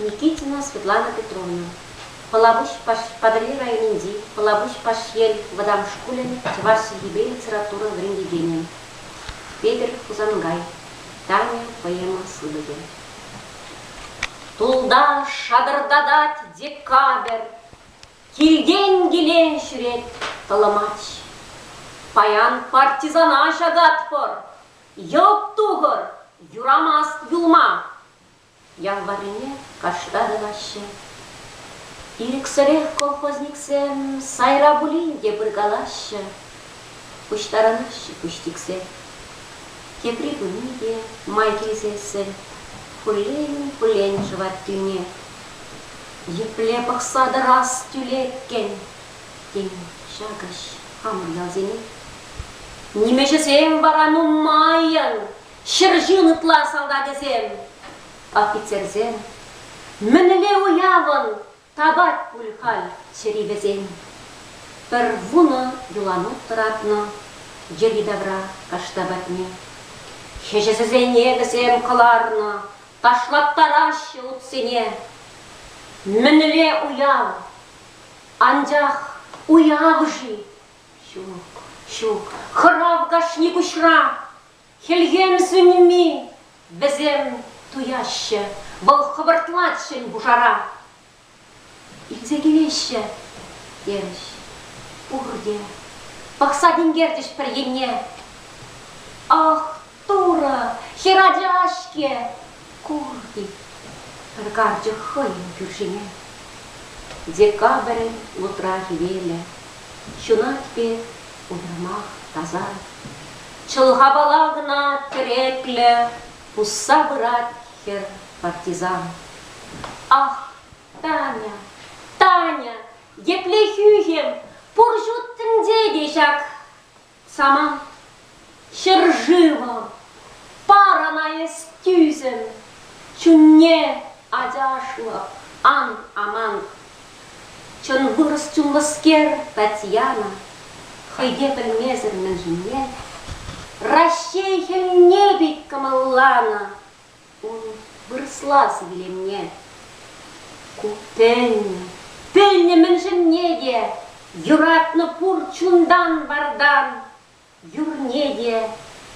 Никитина Светлана Петровна, Пӑлапуҫ Патӑрьел районӗнчи Пӑлапуҫ Пашьел вӑтам шкулӗн чӑваш чӗлхипе литература вӗрентекенӗ. Петӗр Хусанкай, Таня поэма сыпӑкӗ. Тулта шатӑртатать декабрь, Килтен килен ҫӳрет тӑлӑмач. Паян партизана ҫататпӑр, йӑлт тухӑр, юрамасть юлма. Ялваррине кашта тӑваҫҫӗ. Ирӗксӗрех колхозниксем сайра пулин те пыркалаҫҫӗ. Пуҫтарӑнаҫҫӗ пуҫтиксе. Тепри пыни те май килсессӗн пуллен-пуллен шӑвать тӳне. Епле пӑхса тӑрас тӳлеккӗн, тен, ҫакӑҫ хамӑр ялсене? Нимӗҫӗсем вара нумаййӑн, ҫӗр ҫын ытла салтакӗсем, офицерсем. Мӗнле уявӑн тапать пуль халь чӗри вӗсен? Пӗр вунӑ юланут тӑратнӑ йӗри-тавра кашта патне. Хӗҫӗсене вӗсем кӑларнӑ Ташлаттараҫҫӗ утсене мӗнле уяв? Анчах уявӗ-ши? Ҫук, ҫук, хӑрав кашни куҫра. Хӗлхем сӳнми вӗсем туяҫҫӗ, вӑл хӑвӑртлать ҫӗн пушара. Илсе килеҫҫӗ, терӗҫ. Пурте пӑхса тинкерчӗҫ пӗр енне. Ах, Турӑ, хӗр ача-ҫке! Кур-и, пӗр карчӑк хӑйӗн кӳршине. Декабрӗн лутра хӗвелӗ. Ҫунать пек уйрӑмах таса. Чӑлхапала кӑна тӗреклӗ пусса пырать Хӗр, партизан. Ах, Таня, Таня, епле хӳхӗм, пур ҫут тӗнче те ҫак. Самант ҫӗршывӑ, парана эс тӳсӗм, чунне ачашлӑ, ан амант. Чӑн вырӑс чунлӑскер Татьяна хӑйне пӗлмесӗр мӗншӗнне Раҫҫей хӗлне пек кӑмӑлланӑ ун вырӑслас вилӗмне. Ку пӗлнӗ, пӗлнӗ мӗншӗнне те юратнӑ пур чунтан-вартан Юрне те,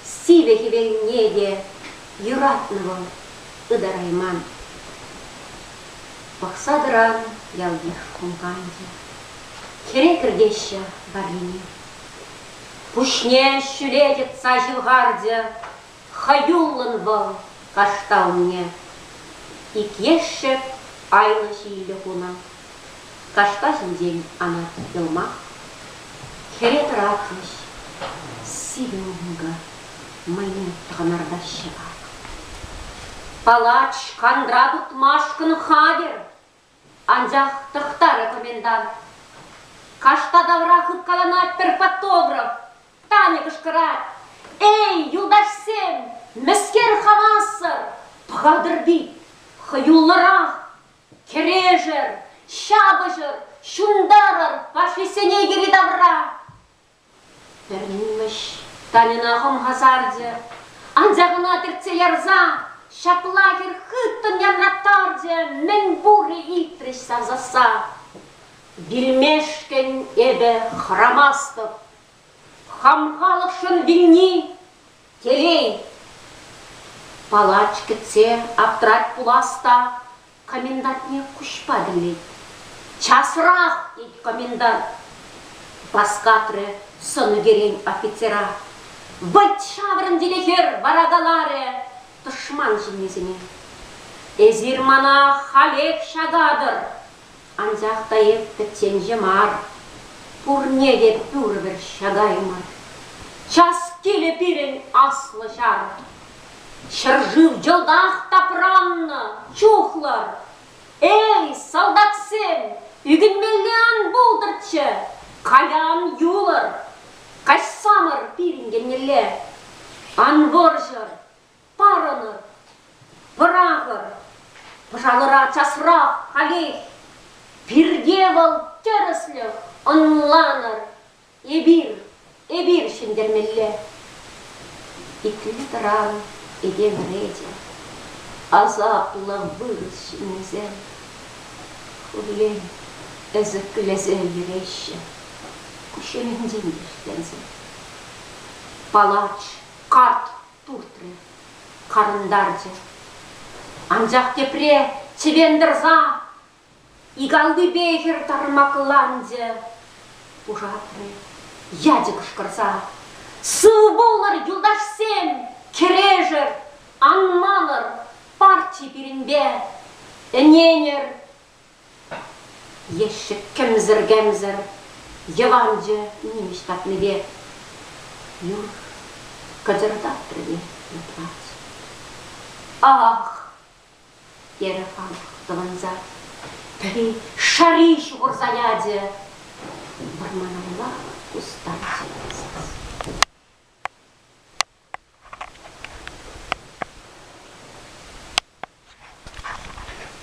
сивӗ хӗвелне те юратнӑ вӑл, ытарайман. Пӑхса тӑран ялтех кулканчӗ. Хӗре кӗртеҫҫӗ варрине. Пуҫне ҫӳле йӑтса ҫывхарчӗ. Хӑюллӑн вӑл кашталне иккешшӗ айлӑ ҫиеле хунӑ. Кашка ҫинчен Анат Йӑлмак хӗре тӑратрӗҫ. Сивӗ-ункӑ мӑйне тӑкӑнартаҫҫӗ. Палач, кантра тытмашкӑн хатӗр! Анчах тӑхтарӗ комендант. Кашта тавра хыпкаланать пӗр фотограф. Тани кӑшкӑрать. Эй, юлташсем, мӗскер хамасӑр? Пӑхатӑр вит, хӑюллӑрах! Кӗрешӗр, ҫапӑҫӑр, ҫунтарӑр фашистсене йӗри-тавра! Пермимӗш Таньӑна хӑмхасарчӗ, анчах ӑна тӗртсе ярсан ҫапла хӗр хыттӑн янраттарчӗ, мӗн пур-и итрӗҫ сасӑсса. Вилмешкӗн эпӗ хӑрамастӑп. Хам халӑхшӑн вилни, телей. Палач кӗтсе аптрать пулас та Комендантне куҫпа тӗллет. «Часрах!» тет комендант. Васкатрӗ сӑнӑкерен офицера. Вӑлт ҫаврӑн тилӗ хӗр вара каларӗ тӑшман ҫыннисене. Эсир мана халех ҫакатӑр, анчах та эп пӗчченҫӗ мар. Пурне те пӳрвӗр ҫакаймӑр. Час килӗ пирӗн аслӑ ҫар, Ҫӗршыв йӑлтах тапраннӑ чухлар. Эй, салтаксем, ӳкӗнмелле ан пултӑрччӗ, каян юлӑр. Каҫсамӑр пирӗн еннелле. Ан вӑрҫӑр, парӑнӑр, пӑрахӑр. Пӑшалӑра часрах халех. Пирте вӑл тӗрӗслӗх, ӑнланӑр. Эпир, эпир ҫӗнтермелле. Итле-тӑран эпе вӗретӗ, асаплӑ вырӑс ҫыннисем. Пурин ӗсӗклесе йӗреҫҫӗ кушелӗнчен вӗҫленсе. Палач карт туртрӗ, карӑнтарчӗ. Анчах тепре чӗвен тӑрса Икаллипе хӗр тармакланчӗ. Пушатрӗ ячӗ кӑшкӑрса. Сыв пулӑр, юлташсем! Кӗрешӗр! Ан манӑр парчи пирӗнпе! Ӗненӗр! Ещӗк кӗмсӗр-кӗмсӗр йӑванчӑ нимӗҫ патнипе юр кӑтӑртатрӗ те упрать. Ах, терӗ хан тӑванса. Пӗри шари ҫухӑрса ячӗ. Вӑрманалла хусканчӗ сас.